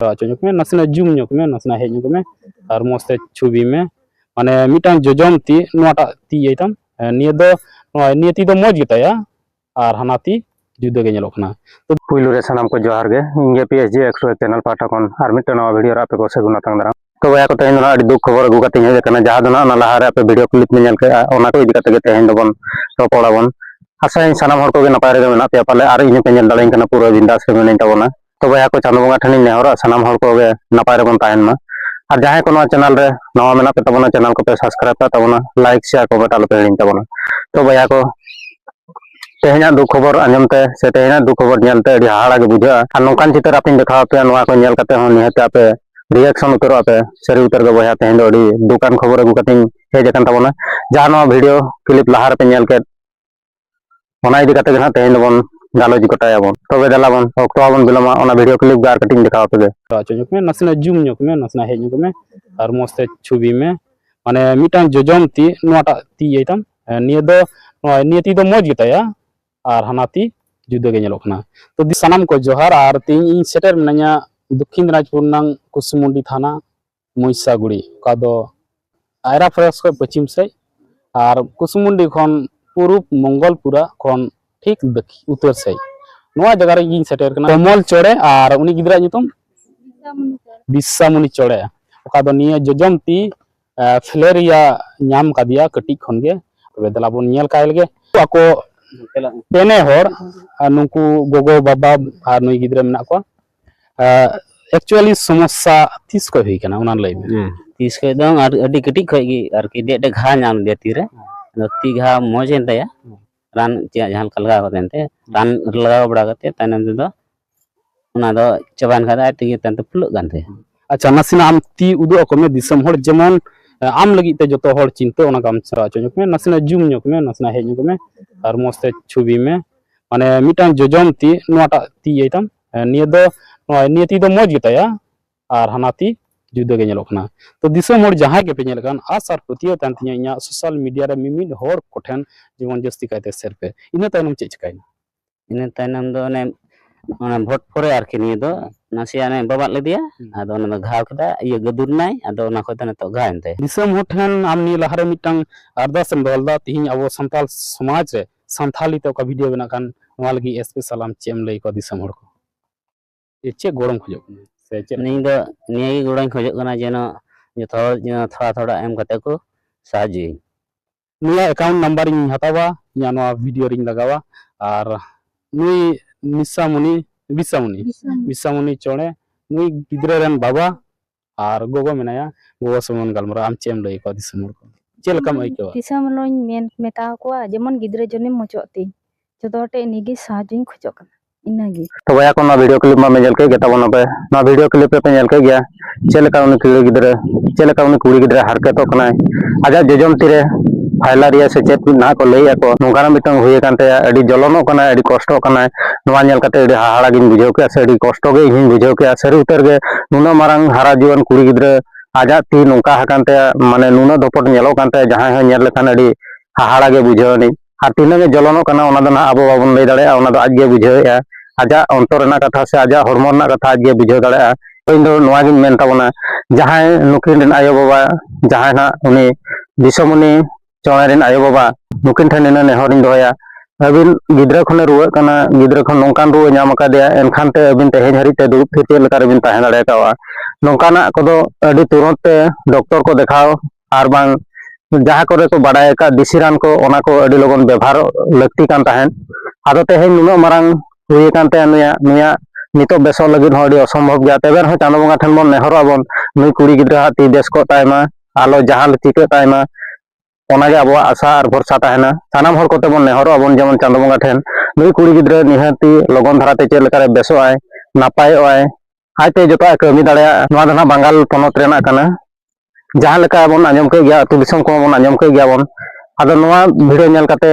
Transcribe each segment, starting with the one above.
ᱠᱚᱨᱟᱣ ᱦᱚᱪᱚ ᱧᱚᱜᱽ ᱢᱮ ᱱᱟᱥᱮᱱᱟᱜ ᱡᱩᱢ ᱧᱚᱜᱽ ᱢᱮ ᱱᱟᱥᱮᱱᱟᱜ ᱦᱮᱡ ᱧᱚᱜᱽ ᱢᱮ ᱟᱨ ᱢᱚᱡᱽ ᱛᱮ ᱪᱷᱚᱵᱤ ᱢᱮ ᱢᱟᱱᱮ ᱢᱤᱫᱴᱟᱝ ᱡᱚᱡᱚᱢ ᱛᱤ ᱱᱚᱣᱟᱴᱟᱜ ᱛᱤ ᱤᱭᱟᱹᱭ ᱛᱟᱢ ᱱᱤᱭᱟᱹ ᱫᱚ ᱱᱚᱜᱼᱚᱭ ᱱᱤᱭᱟᱹ ᱛᱤ ᱫᱚ ᱢᱚᱡᱽ ᱜᱮᱛᱟᱭᱟ ᱟᱨ ᱦᱟᱱᱟ ᱛᱤ ᱡᱩᱫᱟᱹ ᱜᱮ ᱧᱮᱞᱚᱜ ᱠᱟᱱᱟ ᱛᱚ ᱯᱩᱭᱞᱩ ᱨᱮ ᱥᱟᱱᱟᱢ ᱠᱚ ᱡᱚᱦᱟᱨ ᱜᱮ ᱤᱧ ᱜᱮ ᱯᱤ ᱮᱥ ᱡᱤ ᱮᱠᱥᱚ ᱪᱮᱱᱮᱞ ᱯᱟᱦᱴᱟ ᱠᱷᱚᱱ ᱟᱨ ᱢᱤᱫᱴᱟᱝ ᱱᱟᱣᱟ ᱵᱷᱤᱰᱤᱭᱳ ᱨᱮ ᱟᱯᱮ ᱠᱚ ᱥᱟᱹᱜᱩᱱ ᱟᱛᱟᱝ ᱫᱟᱨᱟᱢ ᱛᱚ ᱵᱚᱭᱦᱟ ᱠᱚ ᱛᱮᱦᱮᱧ ᱫᱚ ᱟᱹᱰᱤ ᱫᱩᱠ ᱠᱷᱚᱵᱚᱨ ᱟᱹᱜᱩ ᱠᱟᱛᱮᱧ ᱦᱮᱡ ᱟᱠᱟᱱᱟ ᱡᱟᱦᱟᱸ ᱫᱚ ᱚᱱᱟ ᱞᱟᱦᱟᱨᱮ ᱟᱯᱮ ᱵᱷᱤᱰᱤᱭᱳ ᱠᱞᱤᱯ ᱧᱮᱞ ᱠᱮᱫᱼᱟ ᱚᱱᱟ ᱠᱚ ᱤᱫᱤ ᱠᱟᱛᱮ ᱜᱮ ᱛᱮᱦᱮᱧ ᱫᱚᱵᱚᱱ ᱨᱚᱯᱚᱲᱟᱵᱚᱱ ᱟᱥᱟᱭᱟᱹᱧ ᱥᱟᱱᱟᱢ ᱦᱚᱲ ᱠᱚᱜᱮ ᱱᱟᱯᱟᱭ ᱨᱮᱜᱮ ᱢᱮᱱᱟᱜ ᱯᱮᱭᱟ ᱯᱟᱞᱮ ᱟᱨ ᱤᱧ ᱦᱚᱸᱯᱮ ᱧᱮᱞ ᱫᱟᱲᱮᱭᱟᱹᱧ ᱠᱟᱱᱟ ᱯᱩᱨᱟᱹ ᱵᱤᱱᱫᱟᱥ ᱨᱮ ᱢᱤᱱᱟᱹᱧ ᱛᱟᱵᱚᱱᱟ ᱛᱚ ᱵᱚᱭᱦᱟ ᱠᱚ ᱪᱟᱸᱫᱚ ᱵᱚᱸᱜᱟ ᱴᱷᱮᱱᱤᱧ ᱱᱮᱦᱚᱨᱚᱜᱼᱟ ᱥᱟᱱᱟᱢ ᱦᱚᱲ ᱠᱚᱜᱮ ᱱᱟᱯᱟᱭ ᱨᱮᱵᱚᱱ ᱛᱟᱦᱮᱱ ᱢᱟ ᱟᱨ ᱡᱟᱦᱟᱸᱭ ᱠᱚ ᱱᱚᱣᱟ ᱪᱮᱱᱮᱞ ᱨᱮ ᱱᱟᱣᱟ ᱢᱮᱱᱟᱜ ᱯᱮ ᱛᱟᱵᱚᱱᱟ ᱪᱮᱱᱮᱞ ᱠᱚᱯᱮ ᱥᱟᱵᱥᱠᱨᱟᱭᱤᱵ ᱠᱟᱜ ᱛᱟᱵᱚᱱᱟ ᱞᱟᱭᱤᱠ ᱥᱮᱭᱟᱨ ᱠᱚᱢᱮᱱᱴ ᱟᱞᱚᱯᱮ ᱦᱤᱲᱤᱧ ᱛᱟᱵᱚᱱᱟ ᱛᱚ ᱵᱚᱭᱦᱟ ᱠᱚ ᱛᱮᱦᱮᱧᱟᱜ ᱫᱩᱠ ᱠᱷᱚᱵᱚᱨ ᱟᱸᱡᱚᱢ ᱛᱮ ᱥᱮ ᱛᱮᱦᱮᱧᱟᱜ ᱫᱩᱠ ᱠᱷᱚᱵᱚᱨ ᱧᱮᱞ ᱛᱮ ᱟᱹᱰᱤ ᱦᱟᱦᱟᱲᱟ ᱜᱮ ᱵᱩᱡᱷᱟᱹᱜᱼᱟ ᱟᱨ ᱱᱚᱝᱠᱟᱱ ᱪᱤᱛᱟᱹᱨ ᱟᱯᱮᱧ ᱫᱮᱠᱷᱟᱣ ᱟᱯᱮᱭᱟ ᱱᱚᱣᱟ ᱠᱚ ᱧᱮᱞ ᱠᱟᱛᱮ ᱦᱚᱸ ᱱᱤᱦᱟᱹᱛ ᱟᱯᱮ ᱨᱤᱭᱮᱠᱥᱚᱱ ᱩᱛᱟᱹᱨᱚᱜ ᱟᱯᱮ ᱥᱟᱹᱨᱤ ᱩᱛᱟᱹᱨ ᱜᱮ ᱵᱚᱭᱦᱟ ᱛᱮᱦᱮᱧ ᱫᱚ ᱟᱹᱰᱤ ᱫᱩᱠᱟᱱ ᱠᱷᱚᱵᱚᱨ ᱟᱹᱜᱩ ᱠᱟᱛᱮᱧ ᱦᱮᱡ ᱟᱠᱟᱱ ᱛᱟᱵᱚᱱᱟ ᱡᱟᱦᱟᱸ ᱱᱚᱣᱟ ᱵᱷᱤᱰᱤᱭᱳ ᱠᱞᱤᱯ ᱞᱟᱦᱟ ᱨᱮᱯᱮ ᱧᱮᱞ ᱠᱮᱫ ᱚᱱᱟ ᱤᱫᱤ ᱠᱟᱛᱮ ᱜᱮ ᱦᱟᱸᱜ ᱛᱮᱦᱮᱧ ᱫᱚᱵᱚᱱ ᱜᱟᱞᱚᱪ ᱜᱚᱴᱟᱭᱟᱵᱚᱱ ᱛᱚᱵᱮ ᱫᱮᱞᱟᱵᱚᱱ ᱚᱠᱛᱚ ᱵᱟᱵᱚᱱ ᱵᱤᱞᱚᱢᱟ ᱚᱱᱟ ᱵᱷᱤᱰᱤᱭᱳ ᱠᱞᱤᱯ ᱜᱮ ᱟᱨ ᱠᱟᱹᱴᱤᱡ ᱫᱮᱠᱷᱟᱣ ᱟᱯᱮ ᱜᱮ ᱦᱚᱪᱚ ᱧᱚᱜ ᱢᱮ ᱱᱟᱥᱮᱱᱟᱜ ᱡᱩᱢ ᱧᱚᱜ ᱢᱮ ᱱᱟᱥᱮᱱᱟᱜ ᱦᱮᱡ ᱧᱚᱜ ᱢᱮ ᱟᱨ ᱢᱚᱡᱽ ᱛᱮ ᱪᱷᱚᱵᱤ ᱢᱮ ᱢᱟᱱᱮ ᱢᱤᱫᱴᱟᱝ ᱡᱚᱡᱚᱢ ᱛᱤ ᱱᱚᱣᱟᱴᱟᱜ ᱛᱤ ᱤᱭᱟᱹᱭ ᱛᱟᱢ ᱱᱤᱭᱟᱹ ᱫᱚ ᱱᱚᱣᱟ ᱱᱤᱭᱟᱹ ᱛᱤ ᱫᱚ ᱢᱚᱡᱽ ᱜᱮᱛᱟᱭᱟ ᱟᱨ ᱦᱟᱱᱟ ᱛᱤ ᱡᱩᱫᱟᱹ ᱜᱮ ᱧᱮᱞᱚᱜ ᱠᱟᱱᱟ ᱛᱚ ᱥᱟᱱᱟᱢ ᱠᱚ ᱡᱚᱦᱟᱨ ᱟᱨ ᱛᱮᱦᱮᱧ ᱤᱧ ᱥᱮᱴᱮᱨ ᱢᱤᱱᱟᱹᱧᱟ ᱫᱚᱠᱠᱷᱤᱱ ᱫᱤᱱᱟᱡᱽᱯᱩᱨ ᱨᱮᱱᱟᱝ ᱠᱩᱥᱢᱩᱱᱰᱤ ᱛᱷᱟᱱᱟ ᱢᱚᱭᱥᱟᱜᱩᱲᱤ ᱚᱠᱟ ᱫᱚ ᱟᱭᱨᱟ ᱯᱷᱚᱨᱮᱥ ᱠᱷᱚᱱ ᱯᱚᱪᱷᱤᱢ ᱥᱮᱫ ᱟᱨ ᱠᱩᱥᱢᱩᱱᱰᱤ ᱠᱷᱚᱱ ᱯᱩᱨᱩᱵ ᱢᱚᱝᱜᱚᱞᱯᱩᱨᱟ ᱠᱷᱚᱱ ᱴᱷᱤᱠ ᱩᱛᱟᱹᱨ ᱥᱮᱫ ᱱᱚᱣᱟ ᱡᱟᱭᱜᱟ ᱨᱮ ᱤᱧ ᱥᱮᱴᱮᱨ ᱠᱟᱱᱟ ᱠᱚᱢᱚᱞ ᱪᱚᱲᱮ ᱟᱨ ᱩᱱᱤ ᱜᱤᱫᱽᱨᱟᱹ ᱧᱩᱛᱩᱢ ᱵᱤᱥᱥᱟᱢᱩᱱᱤ ᱪᱚᱲᱮ ᱚᱠᱟ ᱫᱚ ᱱᱤᱭᱟᱹ ᱡᱚᱡᱚᱢ ᱛᱤ ᱯᱷᱤᱞᱮᱨᱤᱭᱟ ᱧᱟᱢ ᱠᱟᱫᱮᱭᱟ ᱠᱟᱹᱴᱤᱡ ᱠᱷᱚᱱ ᱜᱮ ᱛᱚᱵᱮ ᱫᱮᱞᱟ ᱵᱚᱱ ᱧᱮᱞ ᱠᱟᱭ ᱞᱮᱜᱮ ᱟᱠᱚ ᱯᱮᱱᱮ ᱦᱚᱲ ᱱᱩᱠᱩ ᱜᱚᱜᱚ ᱵᱟᱵᱟ ᱟᱨ ᱱᱩᱭ ᱜᱤᱫᱽᱨᱟᱹ ᱢᱮᱱᱟᱜ ᱠᱚᱣᱟ ᱮᱠᱪᱩᱭᱟᱞᱤ ᱥᱚᱢᱚᱥᱥᱟ ᱛᱤᱥ ᱠᱷᱚᱡ ᱦᱩᱭ ᱠᱟᱱᱟ ᱚᱱᱟ ᱞᱟᱹᱭ ᱢᱮ ᱛᱤᱥ ᱠᱷᱚᱡ ᱫᱚ ᱟᱹᱰᱤ ᱠᱟᱹᱴᱤᱡ ᱠᱷᱚᱡ ᱜᱮ ᱟᱨᱠᱤ ᱰᱮᱜ ᱰᱮᱜ ᱜᱷᱟ ᱧᱟᱢ ᱞᱮᱫᱮᱭᱟ ᱛᱤ ᱨᱮ ᱟᱫᱚ ᱛᱤ ᱜᱷᱟ ᱢᱚᱡᱽ ᱮᱱ ᱛᱟᱭᱟ ᱨᱟᱱ ᱪᱮᱫ ᱡᱟᱦᱟᱸ ᱞᱮᱠᱟ ᱞᱟᱜᱟᱣ ᱠᱟᱛᱮ ᱮᱱᱛᱮ ᱨᱟᱱ ᱞᱟᱜᱟᱣ ᱵᱟᱲᱟ ᱠᱟᱛᱮ ᱛᱟᱭᱱᱚᱢ ᱛᱮᱫᱚ ᱚᱱᱟ ᱫᱚ ᱪᱟᱵᱟᱭᱮᱱ ᱠᱷᱟᱡ ᱟᱡ ᱛᱮᱜᱮ ᱛᱟᱭᱚᱢ ᱛᱮ ᱯᱷᱩᱞᱟᱹᱜ ᱠᱟᱱ ᱛᱟᱭᱟ ᱟᱪᱪᱷᱟ ᱱᱟᱥᱮᱱᱟᱜ ᱟᱢ ᱛᱤ ᱩᱫᱩᱜ ᱟᱠᱚ ᱢᱮ ᱫᱤᱥᱚᱢ ᱦᱚᱲ ᱡᱮᱢᱚᱱ ᱟᱢ ᱞᱟᱹᱜᱤᱫ ᱛᱮ ᱡᱚᱛᱚ ᱦᱚᱲ ᱪᱤᱱᱛᱟᱹ ᱚᱱᱟ ᱠᱟᱢ ᱥᱮᱬᱟ ᱦᱚᱪᱚ ᱧᱚᱜ ᱢᱮ ᱱᱟᱥᱮᱱᱟᱜ ᱡᱩᱢ ᱧᱚᱜ ᱢᱮ ᱱᱟᱥᱮᱱᱟᱜ ᱦᱮᱡ ᱧᱚᱜ ᱢᱮ ᱟᱨ ᱢᱚᱡᱽ ᱛᱮ ᱪᱷᱚᱵᱤ ᱢᱮ ᱢᱟᱱᱮ ᱢᱤᱫᱴᱟᱝ ᱡᱚᱡᱚᱢ ᱛᱤ ᱱᱚᱣᱟᱴᱟᱜ ᱛᱤ ᱤᱭᱟᱹᱭ ᱛᱟᱢ ᱦᱮᱸ ᱱᱤᱭᱟᱹ ᱫᱚ ᱱᱚᱜᱼᱚᱭ ᱱᱤᱭᱟᱹ ᱛᱤ ᱫᱚ ᱢᱚᱡᱽ ᱜᱮᱛᱟᱭᱟ ᱟᱨ ᱦᱟᱱᱟ ᱛᱤ ᱡᱩᱫᱟᱹ ᱜᱮ ᱧᱮᱞᱚᱜ ᱠᱟᱱᱟ ᱛᱚ ᱫᱤᱥᱚᱢ ᱦᱚᱲ ᱡᱟᱦᱟᱸᱭ ᱜᱮᱯᱮ ᱧᱮᱞ ᱠᱟᱱ ᱟᱥ ᱟᱨ ᱯᱟᱹᱛᱭᱟᱹᱣ ᱛᱟᱦᱮᱱ ᱛᱤᱧᱟᱹ ᱤᱧᱟᱹᱜ ᱥᱳᱥᱟᱞ ᱢᱤᱰᱤᱭᱟ ᱨᱮ ᱢᱤᱢᱤᱫ ᱦᱚᱲ ᱠᱚᱴᱷᱮᱱ ᱡᱮᱢᱚᱱ ᱡᱟᱹᱥᱛᱤ ᱠᱟᱭᱛᱮ ᱥᱮᱭᱟᱨ ᱯᱮ ᱤᱱᱟᱹ ᱛᱟᱭᱱᱚᱢ ᱪᱮᱫ ᱪᱤᱠᱟᱹᱭᱮᱱᱟ ᱤᱱᱟᱹ ᱛᱟᱭᱱᱚᱢ ᱫᱚ ᱚᱱᱮ ᱚᱱᱟ ᱵᱷᱳᱴ ᱯᱚᱨᱮ ᱟᱨᱠᱤ ᱱᱤᱭᱟᱹ ᱫᱚ ᱱᱟᱥᱮᱭᱟᱜ ᱚᱱᱮ ᱵᱟᱵᱟᱫ ᱞᱮᱫᱮᱭᱟ ᱟᱫᱚ ᱚᱱᱟ ᱫᱚ ᱜᱷᱟᱣ ᱠᱮᱫᱟ ᱤᱭᱟᱹ ᱜᱟᱹᱫᱩᱨ ᱮᱱᱟᱭ ᱟᱫᱚ ᱚᱱᱟ ᱠᱷᱚᱡ ᱫᱚ ᱱᱤᱛᱚᱜ ᱜᱷᱟᱣ ᱮᱱ ᱛᱟᱭᱟ ᱫᱤᱥᱚᱢ ᱦᱚᱲ ᱴᱷᱮᱱ ᱟᱢ ᱱᱤᱭᱟᱹ ᱞᱟᱦᱟᱨᱮ ᱢᱤᱫᱴᱟᱝ ᱟᱨᱫᱟᱥ ᱮᱢ ᱫᱚᱦᱚ ᱞᱮᱫᱟ ᱛᱤᱦᱤᱧ ᱟᱵᱚ ᱥᱟᱱᱛᱟᱲ ᱥᱚᱢᱟᱡᱽ ᱨᱮ ᱥᱟᱱᱛᱷᱟᱞᱤ ᱛᱮ ᱚᱠᱟ ᱵᱷᱤᱰᱤᱭᱳ ᱵᱮᱱᱟᱜ ᱠᱟᱱ ᱱᱚᱣᱟ ᱞᱟᱹᱜᱤᱫ ᱮᱥᱯᱮᱥᱟᱞ ᱟᱢ ᱪᱮᱫ ᱮᱢ ᱞᱟᱹᱭ ᱟᱠᱚᱣᱟ ᱫᱤᱥᱚᱢ ᱦᱚᱲ ᱠᱚ ᱡᱮ ᱪᱮᱫ ᱜᱚᱲᱚᱢ ᱠᱷᱚᱡᱚᱜ ᱠᱟᱱᱟ ᱥᱮ ᱪᱮᱫ ᱤᱧ ᱫᱚ ᱱᱤᱭᱟᱹ ᱜᱮ ᱜᱚᱲᱚᱧ ᱠᱷᱚᱡᱚᱜ ᱠᱟᱱᱟ ᱡᱮᱱᱚ ᱡᱚᱛᱚ ᱦᱚᱲ ᱡᱮᱱᱚ ᱛᱷᱚᱲᱟ ᱛᱷᱚᱲᱟ ᱮᱢ ᱠᱟᱛᱮ ᱠᱚ ᱥᱟᱦᱟᱡᱽᱡᱚᱭᱟᱹᱧ ᱱᱤᱭᱟᱹ ᱮᱠᱟᱣᱩᱱᱴ ᱱᱟᱢᱵᱟᱨ ᱤᱧ ᱦᱟᱛᱟᱣᱟ ᱤᱧᱟᱹᱜ ᱱᱚᱣᱟ ᱵᱷᱤᱰᱤᱭᱳ ᱨᱤᱧ ᱞᱟᱜᱟᱣᱟ ᱟᱨ ᱱᱩᱭ ᱱᱤᱥᱟᱢᱩᱱᱤ ᱵᱤᱥᱟᱢᱩᱱᱤ ᱵᱤᱥᱟᱢᱩᱱᱤ ᱪᱚᱬᱮ ᱱᱩᱭ ᱜᱤᱫᱽᱨᱟᱹ ᱨᱮᱱ ᱵᱟᱵᱟ ᱟᱨ ᱜᱚᱜᱚ ᱢᱮᱱᱟᱭᱟ ᱜᱚᱜᱚ ᱥᱚᱢᱚᱱ ᱜᱟᱞᱢᱟᱨᱟᱣ ᱟᱢ ᱪᱮᱫ ᱮᱢ ᱞᱟᱹᱭ ᱟᱠᱚᱣᱟ ᱫᱤᱥᱚᱢ ᱦᱚᱲ ᱠᱚ ᱪᱮᱫ ᱞᱮᱠᱟᱢ ᱟᱹᱭᱠᱟᱹᱣᱟ ᱫᱤᱥᱚᱢ ᱦᱚᱲᱤᱧ ᱢᱮᱱ ᱢᱮᱛᱟ ᱟᱠᱚᱣᱟ ᱡᱮᱢᱚᱱ ᱜᱤᱫᱽᱨᱟᱹ ᱡᱚᱱᱮᱢ ᱢᱚᱪᱚᱜ ᱛᱤᱧ ᱡᱚᱛᱚ ᱦᱚᱲ ᱴᱷᱮᱱ ᱱᱤᱜᱮ ᱥᱟᱦᱟᱡᱽᱡᱚᱧ ᱠᱷᱚᱡᱚᱜ ᱠᱟᱱᱟ ᱤᱱᱟᱹᱜᱮ ᱛᱚ ᱵᱚᱭᱦᱟ ᱠᱚ ᱱᱚᱣᱟ ᱵᱷᱤᱰᱤᱭᱳ ᱠᱞᱤᱯ ᱢᱟ ᱯᱮ ᱧᱮᱞ ᱠᱮᱫ ᱜᱮ ᱛᱟᱵᱚᱱᱟ ᱯᱮ ᱱᱚᱣᱟ ᱵᱷᱤᱰᱤᱭᱳ ᱠᱞᱤᱯ ᱨᱮᱯᱮ ᱧᱮᱞ ᱠᱮᱫ ᱜᱮᱭᱟ ᱪᱮᱫ ᱞᱮᱠᱟ ᱩᱱᱤ ᱠᱩᱲᱤ ᱜᱤᱫᱽᱨᱟᱹ ᱪᱮᱫ ᱞᱮᱠᱟ ᱩᱱᱤ ᱠᱩᱲᱤ ᱜᱤᱫᱽᱨᱟᱹ ᱦᱟᱨᱠᱮᱛᱚᱜ ᱠᱟᱱᱟᱭ ᱟᱡᱟᱜ ᱡᱚᱡᱚᱢ ᱛᱤᱨᱮ ᱯᱷᱟᱭᱞᱟᱨᱤᱭᱟ ᱥᱮ ᱪᱮᱫ ᱱᱟᱦᱟᱜ ᱠᱚ ᱞᱟᱹᱭ ᱟᱠᱚ ᱱᱚᱝᱠᱟᱱᱟᱜ ᱢᱤᱫᱴᱟᱝ ᱦᱩᱭ ᱟᱠᱟᱱ ᱛᱟᱭᱟ ᱟᱹᱰᱤ ᱡᱚᱞᱚᱱᱚᱜ ᱠᱟᱱᱟᱭ ᱟᱹᱰᱤ ᱠᱚᱥᱴᱚᱜ ᱠᱟᱱᱟᱭ ᱱᱚᱣᱟ ᱧᱮᱞ ᱠᱟᱛᱮ ᱟᱹᱰᱤ ᱦᱟᱦᱟᱲᱟ ᱜᱤᱧ ᱵᱩᱡᱷᱟᱹᱣ ᱠᱮᱫᱼᱟ ᱥᱮ ᱟᱹᱰᱤ ᱠᱚᱥᱴᱚ ᱜᱮ ᱤᱧ ᱦᱚᱧ ᱵᱩᱡᱷᱟᱹᱣ ᱠᱮᱫᱼᱟ ᱥᱟᱹᱨᱤ ᱩᱛᱟᱹᱨ ᱜᱮ ᱱᱩᱱᱟᱹᱜ ᱢᱟᱨᱟᱝ ᱦᱟᱨᱟ ᱡᱩᱣᱟᱹᱱ ᱠᱩᱲᱤ ᱜᱤᱫᱽᱨᱟᱹ ᱟᱡᱟᱜ ᱛᱤ ᱱᱚᱝᱠᱟ ᱟᱠᱟᱱ ᱛᱟᱭᱟ ᱢᱟᱱᱮ ᱱᱩᱱᱟᱹᱜ ᱫᱚᱯᱚᱴ ᱧᱮᱞᱚᱜ ᱠᱟᱱ ᱛᱟᱭᱟ ᱡᱟᱦᱟᱸᱭ ᱦᱚᱸ ᱧᱮᱞ ᱞᱮᱠᱷᱟᱱ ᱟᱹᱰᱤ ᱦᱟᱦᱟᱲᱟ ᱜᱮ ᱵᱩᱡᱷᱟᱹᱣ ᱟᱹᱱᱤᱡ ᱟᱨ ᱛᱤᱱᱟᱹᱜ ᱮ ᱡᱚᱞᱚᱱᱚᱜ ᱠᱟᱱᱟ ᱚᱱᱟ ᱫᱚ ᱱᱟᱦᱟᱜ ᱟᱵᱚ ᱵᱟᱵᱚᱱ ᱞᱟᱹᱭ ᱫᱟᱲᱮᱭᱟᱜᱼᱟ ᱚᱱᱟ ᱫᱚ ᱟᱡ ᱜᱮ ᱵᱩᱡᱷᱟᱹᱣᱮᱫᱼᱟ ᱟᱡᱟᱜ ᱚᱱᱛᱚᱨ ᱨᱮᱱᱟᱜ ᱠᱟᱛᱷᱟ ᱥᱮ ᱟᱡᱟᱜ ᱦᱚᱲᱢᱚ ᱨᱮᱱᱟᱜ ᱠᱟᱛᱷᱟ ᱟᱡ ᱜᱮ ᱵᱩᱡᱷᱟᱹᱣ ᱫᱟᱲᱮᱭᱟᱜᱼᱟ ᱤᱧ ᱫᱚ ᱱᱚᱣᱟ ᱜᱤᱧ ᱢᱮᱱ ᱛᱟᱵᱚᱱᱟ ᱡᱟᱦᱟᱸᱭ ᱱᱩᱠᱤᱱ ᱨᱮᱱ ᱟᱭᱳ ᱵᱟᱵᱟ ᱡᱟᱦᱟᱸᱭ ᱱᱟᱦᱟᱜ ᱩᱱᱤ ᱫᱤᱥᱚᱢᱩᱱᱤ ᱪᱚᱬᱮ ᱨᱮᱱ ᱟᱭᱳᱼᱵᱟᱵᱟ ᱱᱩᱠᱤᱱ ᱴᱷᱮᱱ ᱱᱤᱱᱟᱹᱜ ᱱᱮᱦᱚᱨᱤᱧ ᱫᱚᱦᱚᱭᱟ ᱟᱹᱵᱤᱱ ᱜᱤᱫᱽᱨᱟᱹ ᱠᱷᱚᱱᱮ ᱨᱩᱣᱟᱹᱜ ᱠᱟᱱᱟ ᱜᱤᱫᱽᱨᱟᱹ ᱠᱷᱚᱱ ᱱᱚᱝᱠᱟᱱ ᱨᱩᱣᱟᱹ ᱧᱟᱢ ᱟᱠᱟᱫᱮᱭᱟ ᱮᱱᱠᱷᱟᱱ ᱛᱮ ᱟᱹᱵᱤᱱ ᱛᱮᱦᱮᱧ ᱦᱟᱹᱨᱤᱡ ᱛᱮ ᱫᱩᱲᱩᱵ ᱛᱷᱤᱨ ᱪᱮᱫ ᱞᱮᱠᱟ ᱨᱮᱵᱤᱱ ᱛᱟᱦᱮᱸ ᱫᱟᱲᱮ ᱠᱟᱣᱟ ᱱᱚᱝᱠᱟᱱᱟᱜ ᱠᱚᱫᱚ ᱟᱹᱰᱤ ᱛᱩᱨᱚᱱᱛ ᱛᱮ ᱰᱚᱠᱴᱚᱨ ᱠᱚ ᱫᱮᱠᱷᱟᱣ ᱟᱨ ᱵᱟᱝ ᱡᱟᱦᱟᱸ ᱠᱚᱨᱮ ᱠᱚ ᱵᱟᱰᱟᱭ ᱟᱠᱟᱫ ᱫᱮᱥᱤ ᱨᱟᱱ ᱠᱚ ᱚᱱᱟ ᱠᱚ ᱟᱹᱰᱤ ᱞᱚᱜᱚᱱ ᱵᱮᱵᱷᱟᱨ ᱞᱟᱹᱠᱛᱤ ᱠᱟᱱ ᱛᱟᱦᱮᱸᱫ ᱟᱫᱚ ᱛᱮᱦᱮᱧ ᱱᱩᱱᱟᱹᱜ ᱢᱟᱨᱟᱝ ᱦᱩᱭ ᱟᱠᱟᱱ ᱛᱟᱭᱟ ᱱᱩᱭᱟᱜ ᱱᱩᱭᱟᱜ ᱱᱤᱛᱚᱜ ᱵᱮᱥᱚᱜ ᱞᱟᱹᱜᱤᱫ ᱦᱚᱸ ᱟᱹᱰᱤ ᱚᱥᱚᱢᱵᱷᱚᱵ ᱜᱮᱭᱟ ᱛᱚᱵᱮ ᱨᱮᱦᱚᱸ ᱪᱟᱸᱫᱳ ᱵᱚᱸᱜᱟ ᱴᱷᱮᱱ ᱵᱚᱱ ᱱᱮᱦᱚᱨᱚᱜ ᱟᱵᱚᱱ ᱱᱩᱭ ᱠᱩᱲᱤ ᱜᱤᱫᱽᱨᱟᱹ ᱦᱟᱜ ᱛᱤ ᱵᱮᱥ ᱠᱚᱜ ᱛᱟᱭ ᱢᱟ ᱟᱞᱚ ᱡᱟᱦᱟᱸ ᱪᱤᱠᱟᱹᱜ ᱛᱟᱭ ᱢᱟ ᱚᱱᱟᱜᱮ ᱟᱵᱚᱣᱟᱜ ᱟᱥᱟ ᱟᱨ ᱵᱷᱚᱨᱥᱟ ᱛᱟᱦᱮᱱᱟ ᱥᱟᱱᱟᱢ ᱦᱚᱲ ᱠᱚᱛᱮ ᱵᱚᱱ ᱱᱮᱦᱚᱨᱚᱜ ᱟᱵᱚᱱ ᱡᱮᱢᱚᱱ ᱪᱟᱸᱫᱳ ᱵᱚᱸᱜᱟ ᱴᱷᱮᱱ ᱱᱩᱭ ᱠᱩᱲᱤ ᱜᱤᱫᱽᱨᱟᱹ ᱱᱤᱦᱟᱹᱛᱤ ᱞᱚᱜᱚᱱ ᱫᱷᱟᱨᱟᱛᱮ ᱪᱮᱫ ᱞᱮᱠᱟᱨᱮ ᱵᱮᱥᱚᱜ ᱟᱭ ᱱᱟᱯᱟᱭᱚᱜ ᱟᱭ ᱟᱡᱛᱮ ᱡᱚᱛᱚᱣᱟᱜ ᱠᱟᱹᱢᱤ ᱫᱟᱲᱮᱭᱟᱜᱼᱟ ᱱᱚᱣᱟ ᱫᱚ ᱱᱟᱜ ᱵᱟᱝᱜᱟᱞ ᱯᱚᱱᱚᱛ ᱨᱮᱱᱟᱜ ᱠᱟᱱᱟ ᱡᱟᱦᱟᱸ ᱞᱮᱠᱟ ᱵᱚᱱ ᱟᱸᱡᱚᱢ ᱠᱮᱫ ᱜᱮᱭᱟ ᱟᱹᱛᱩ ᱫᱤᱥᱚᱢ ᱠᱚᱦᱚᱸ ᱵᱚᱱ ᱟᱸᱡᱚᱢ ᱠᱮᱫ ᱜᱮᱭᱟ ᱵᱚᱱ ᱟᱫᱚ ᱱᱚᱣᱟ ᱵᱷᱤᱰᱤᱭᱳ ᱧᱮᱞ ᱠᱟᱛᱮ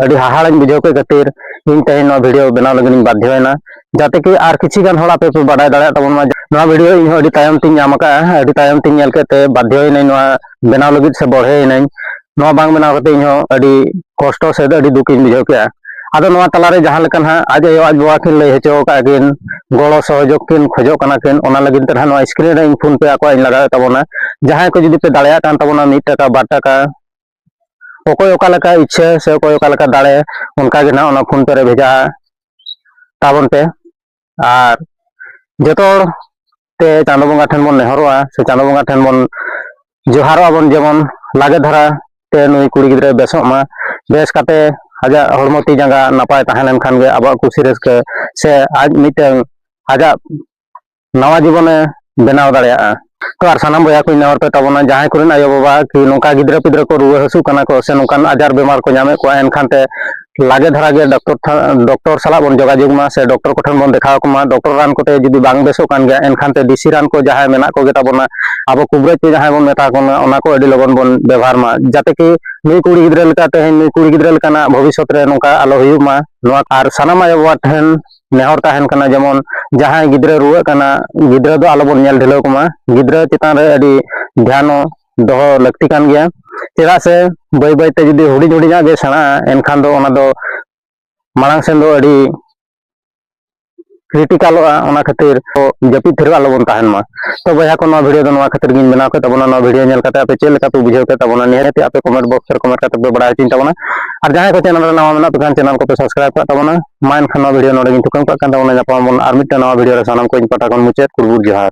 ᱟᱹᱰᱤ ᱦᱟᱦᱟᱲᱟᱧ ᱵᱩᱡᱷᱟᱹᱣ ᱠᱮᱫ ᱠᱷᱟᱹᱛᱤᱨ ᱤᱧ ᱛᱮᱦᱮᱧ ᱱᱚᱣᱟ ᱵᱷᱤᱰᱤᱭᱳ ᱵᱮᱱᱟᱣ ᱞᱟᱹᱜᱤᱫ ᱤᱧ ᱵᱟᱫᱽᱫᱷᱚᱭᱮᱱᱟ ᱡᱟᱛᱮ ᱠᱤ ᱟᱨ ᱠᱤᱪᱷᱩ ᱜᱟᱱ ᱦᱚᱲ ᱟᱯᱮ ᱯᱮ ᱵᱟᱰᱟᱭ ᱫᱟᱲᱮᱭᱟᱜ ᱛᱟᱵᱚᱱ ᱢᱟ ᱱᱚᱣᱟ ᱵᱷᱤᱰᱤᱭᱳ ᱤᱧ ᱦᱚᱸ ᱟᱹᱰᱤ ᱛᱟᱭᱚᱢ ᱛᱤᱧ ᱧᱟᱢ ᱟᱠᱟᱫᱼᱟ ᱟᱹᱰᱤ ᱛᱟᱭᱚᱢ ᱛᱤᱧ ᱧᱮᱞ ᱠᱮᱫ ᱛᱮ ᱵᱟᱫᱽᱫᱷᱚᱭᱮᱱᱟᱹᱧ ᱱᱚᱣᱟ ᱵᱮᱱᱟᱣ ᱞᱟᱹᱜᱤᱫ ᱥᱮ ᱵᱚᱲᱦᱮᱭᱮᱱᱟᱹᱧ ᱱᱚᱣᱟ ᱵᱟᱝ ᱵᱮᱱᱟᱣ ᱠᱟᱛᱮ ᱤᱧ ᱦᱚᱸ ᱟᱹᱰᱤ ᱠᱚᱥᱴᱚ ᱥᱮ ᱟᱹᱰᱤ ᱫᱩᱠ ᱤᱧ ᱵᱩᱡᱷᱟᱹᱣ ᱠᱮᱫᱼᱟ ᱟᱫᱚ ᱱᱚᱣᱟ ᱛᱟᱞᱟᱨᱮ ᱡᱟᱦᱟᱸ ᱞᱮᱠᱟ ᱱᱟᱦᱟᱜ ᱟᱡ ᱟᱭᱳ ᱟᱡ ᱵᱟᱵᱟ ᱠᱤᱱ ᱞᱟᱹᱭ ᱦᱚᱪᱚ ᱟᱠᱟᱫ ᱠᱤᱱ ᱜᱚᱲᱚ ᱥᱚᱦᱚᱡᱳᱜᱽ ᱠᱤᱱ ᱠᱷᱚᱡᱚᱜ ᱠᱟᱱᱟ ᱠᱤᱱ ᱚᱱᱟ ᱞᱟᱹᱜᱤᱫ ᱛᱮ ᱱᱟᱦᱟᱜ ᱱᱚᱣᱟ ᱥᱠᱨᱤᱱ ᱨᱮ ᱤᱧ ᱯᱷᱳᱱ ᱯᱮ ᱟᱠᱚᱣᱟᱜ ᱤᱧ ᱞᱟᱜᱟᱣᱮᱫ ᱛᱟᱵᱚᱱᱟ ᱡᱟᱦᱟᱸᱭ ᱠᱚ ᱡᱩᱫᱤ ᱯᱮ ᱫᱟᱲᱮᱭᱟᱜ ᱠᱟᱱ ᱛᱟᱵᱚᱱᱟ ᱢᱤᱫ ᱴᱟᱠᱟ ᱵᱟᱨ ᱴᱟᱠᱟ ᱚᱠᱚᱭ ᱚᱠᱟ ᱞᱮᱠᱟ ᱤᱪᱪᱷᱟᱹ ᱥᱮ ᱚᱠᱚᱭ ᱚᱠᱟ ᱞᱮᱠᱟ ᱫᱟᱲᱮ ᱚᱱᱠᱟ ᱜᱮ ᱱᱟᱦᱟᱜ ᱚᱱᱟ ᱯᱷᱳᱱ ᱯᱮ ᱨᱮ ᱵᱷᱮᱡᱟ ᱛᱟᱵᱚᱱ ᱯᱮ ᱟᱨ ᱡᱚᱛᱚ ᱦᱚᱲ ᱛᱮ ᱪᱟᱸᱫᱚ ᱵᱚᱸᱜᱟ ᱴᱷᱮᱱ ᱵᱚᱱ ᱱᱮᱦᱚᱨᱚᱜᱼᱟ ᱥᱮ ᱪᱟᱸᱫᱚ ᱵᱚᱸᱜᱟ ᱴᱷᱮᱱ ᱵᱚᱱ ᱡᱚᱦᱟᱨᱚᱜᱼᱟ ᱵᱚᱱ ᱡᱮᱢᱚᱱ ᱞᱟᱜᱮ ᱫᱷᱟᱨᱟ ᱛᱮ ᱱᱩᱭ ᱠᱩᱲᱤ ᱜᱤᱫᱽᱨᱟᱹ ᱵᱮᱥᱚᱜ ᱢᱟ ᱵᱮᱥ ᱠᱟᱛᱮ ᱟᱡᱟᱜ ᱦᱚᱲᱢᱚ ᱛᱤ ᱡᱟᱸᱜᱟ ᱱᱟᱯᱟᱭ ᱛᱟᱦᱮᱸ ᱞᱮᱱᱠᱷᱟᱱ ᱜᱮ ᱟᱵᱚᱣᱟᱜ ᱠᱩᱥᱤ ᱨᱟᱹᱥᱠᱟᱹ ᱥᱮ ᱟᱡ ᱢᱤᱫᱴᱟᱝ ᱟᱡᱟᱜ ᱱᱟᱣᱟ ᱡᱤᱵᱚᱱᱮ ᱵᱮᱱᱟᱣ ᱫᱟᱲᱮᱭᱟᱜᱼᱟ ᱛᱚ ᱟᱨ ᱥᱟᱱᱟᱢ ᱵᱚᱭᱦᱟ ᱠᱚ ᱱᱮᱦᱚᱨ ᱯᱮ ᱛᱟᱵᱚᱱᱟ ᱡᱟᱦᱟᱸᱭ ᱠᱚᱨᱮᱱ ᱟᱭᱳ ᱵᱟᱵᱟ ᱠᱤ ᱱᱚᱝᱠᱟ ᱜᱤᱫᱽᱨᱟᱹ ᱯᱤᱫᱽᱨᱟᱹ ᱠᱚ ᱨᱩᱣᱟᱹ ᱦᱟᱹᱥᱩᱜ ᱠᱟᱱᱟ ᱠᱚ ᱥᱮ ᱱᱚᱝᱠᱟᱱ ᱟᱡᱟᱨ ᱵᱮᱢᱟᱨ ᱠᱚ ᱧᱟᱢᱮᱫ ᱠᱚᱣᱟ ᱮᱱᱠᱷᱟᱱ ᱛᱮ ᱞᱟᱜᱮ ᱫᱷᱟᱨᱟ ᱜᱮ ᱰᱟᱠᱛᱚᱨ ᱰᱚᱠᱴᱚᱨ ᱥᱟᱞᱟᱜ ᱵᱚᱱ ᱡᱳᱜᱟᱡᱳᱜᱽ ᱢᱟ ᱥᱮ ᱰᱚᱠᱴᱚᱨ ᱠᱚᱴᱷᱮᱱ ᱵᱚᱱ ᱫᱮᱠᱷᱟᱣ ᱠᱚᱢᱟ ᱰᱚᱠᱴᱚᱨ ᱨᱟᱱ ᱠᱚᱛᱮ ᱡᱩᱫᱤ ᱵᱟᱝ ᱵᱮᱥᱚᱜ ᱠᱟᱱ ᱜᱮᱭᱟ ᱮᱱᱠᱷᱟᱱ ᱛᱮ ᱫᱮᱥᱤ ᱨᱟᱱ ᱠᱚ ᱡᱟᱦᱟᱸᱭ ᱢᱮᱱᱟᱜ ᱠᱚᱜᱮ ᱛᱟᱵᱚᱱᱟ ᱟᱵᱚ ᱠᱩᱵᱨᱟᱹᱡ ᱛᱮ ᱡᱟᱦᱟᱸᱭ ᱵᱚᱱ ᱢᱮᱛᱟ ᱠᱚ ᱠᱟᱱᱟ ᱚᱱᱟ ᱠᱚ ᱟᱹᱰᱤ ᱞᱚᱜᱚᱱ ᱵᱚᱱ ᱵᱮᱵᱚᱦᱟᱨ ᱢᱟ ᱡᱟᱛᱮ ᱠᱤ ᱱᱩᱭ ᱠᱩᱲᱤ ᱜᱤᱫᱽᱨᱟᱹ ᱞᱮᱠᱟ ᱛᱮᱦᱮᱧ ᱱᱩᱭ ᱠᱩᱲᱤ ᱜᱤᱫᱽᱨᱟᱹ ᱞᱮᱠᱟᱱᱟᱜ ᱵᱷᱚᱵᱤᱥᱥᱚᱛ ᱨᱮ ᱱᱚᱝᱠᱟ ᱟᱞᱚ ᱦᱩᱭᱩᱜ ᱢᱟ ᱱᱚᱣᱟ ᱟᱨ ᱥᱟᱱᱟᱢ ᱟᱭᱳ ᱵᱟᱵᱟ ᱴᱷᱮᱱ ᱱᱮᱦᱚᱨ ᱛᱟᱦᱮᱱ ᱠᱟᱱᱟ ᱡᱮᱢᱚᱱ ᱡᱟᱦᱟᱸᱭ ᱜᱤᱫᱽᱨᱟᱹ ᱨᱩᱣᱟᱹᱜ ᱠᱟᱱᱟ ᱜᱤᱫᱽᱨᱟᱹ ᱫᱚ ᱟᱞᱚᱵᱚᱱ ᱧᱮᱞ ᱰᱷᱤᱞᱟᱹᱣ ᱠᱚᱢᱟ ᱜᱤᱫᱽᱨᱟᱹ ᱪᱮᱛᱟᱱ ᱨᱮ ᱟᱹᱰᱤ ᱫᱷᱮᱭᱟᱱ ᱫᱚᱦᱚ ᱞᱟᱹᱠᱛᱤ ᱠᱟᱱ ᱜᱮᱭᱟ ᱪᱮᱫᱟᱜ ᱥᱮ ᱵᱟᱹᱭ ᱵᱟᱹᱭᱛᱮ ᱡᱩᱫᱤ ᱦᱩᱰᱤᱧ ᱦᱩᱰᱤᱧᱟᱜ ᱜᱮ ᱥᱮᱬᱟᱜᱼᱟ ᱮᱱᱠᱷᱟᱱ ᱫᱚ ᱚᱱᱟ ᱫᱚ ᱢᱟᱲᱟᱝ ᱥᱮᱱ ᱫᱚ ᱟᱹᱰᱤ ᱠᱨᱤᱴᱤᱠᱟᱞᱚᱜᱼᱟ ᱚᱱᱟ ᱠᱷᱟᱹᱛᱤᱨ ᱡᱟᱹᱯᱤᱫ ᱛᱷᱤᱨ ᱟᱞᱚᱵᱚᱱ ᱛᱟᱦᱮᱱ ᱢᱟ ᱛᱚ ᱵᱚᱭᱦᱟ ᱠᱚ ᱱᱚᱣᱟ ᱵᱷᱤᱰᱤᱭᱳ ᱫᱚ ᱱᱚᱣᱟ ᱠᱷᱟᱹᱛᱤᱨ ᱜᱤᱧ ᱵᱮᱱᱟᱣ ᱠᱮᱫ ᱛᱟᱵᱚᱱᱟ ᱱᱚᱣᱟ ᱵᱷᱤᱰᱤᱭᱳ ᱧᱮᱞ ᱠᱟᱛᱮ ᱟᱯᱮ ᱪᱮᱫ ᱞᱮᱠᱟ ᱯᱮ ᱵᱩᱡᱷᱟᱹᱣ ᱠᱮᱫ ᱛᱟᱵᱚᱱᱟ ᱱᱤᱦᱟᱹᱛ ᱟᱯᱮ ᱠᱚᱢᱮᱱᱴ ᱵᱚᱠᱥ ᱨᱮ ᱠᱚᱢᱮᱱᱴ ᱠᱟᱛᱮ ᱯᱮ ᱵᱟᱲᱟᱭ ᱦᱚᱪᱚᱧ ᱛᱟᱵᱚᱱᱟ ᱟᱨ ᱡᱟᱦᱟᱸᱭ ᱠᱚ ᱪᱮᱱᱮᱞ ᱨᱮ ᱱᱟᱣᱟ ᱢᱮᱱᱟᱜ ᱯᱮ ᱠᱷᱟᱱ ᱪᱮᱱᱮᱞ ᱠᱚᱯᱮ ᱥᱟᱵᱥᱠᱨᱟᱭᱤᱵ ᱠᱟᱜ ᱛᱟᱵᱚᱱᱟ ᱢᱟ ᱮᱱᱠᱷᱟᱱ ᱱᱚᱣᱟ ᱵᱷᱤᱰᱤᱭᱳ ᱱᱚᱰᱮ ᱜᱤᱧ ᱛᱷᱩᱠᱟᱹᱢ ᱠᱟᱜ ᱠᱟᱱ ᱛᱟᱵᱚᱱᱟ ᱧᱟᱯᱟᱢ ᱟᱵᱚᱱ ᱟᱨ ᱢᱤᱫᱴᱟᱝ ᱱᱟᱣᱟ ᱵᱷᱤᱰᱤᱭᱳ ᱨᱮ ᱥᱟᱱᱟᱢ ᱠᱚ ᱤᱧ ᱯᱟᱦᱴᱟ ᱠᱷᱚᱱ ᱢᱩᱪᱟᱹᱫ ᱠᱩᱲᱵᱩᱴ ᱡᱚᱦᱟᱨ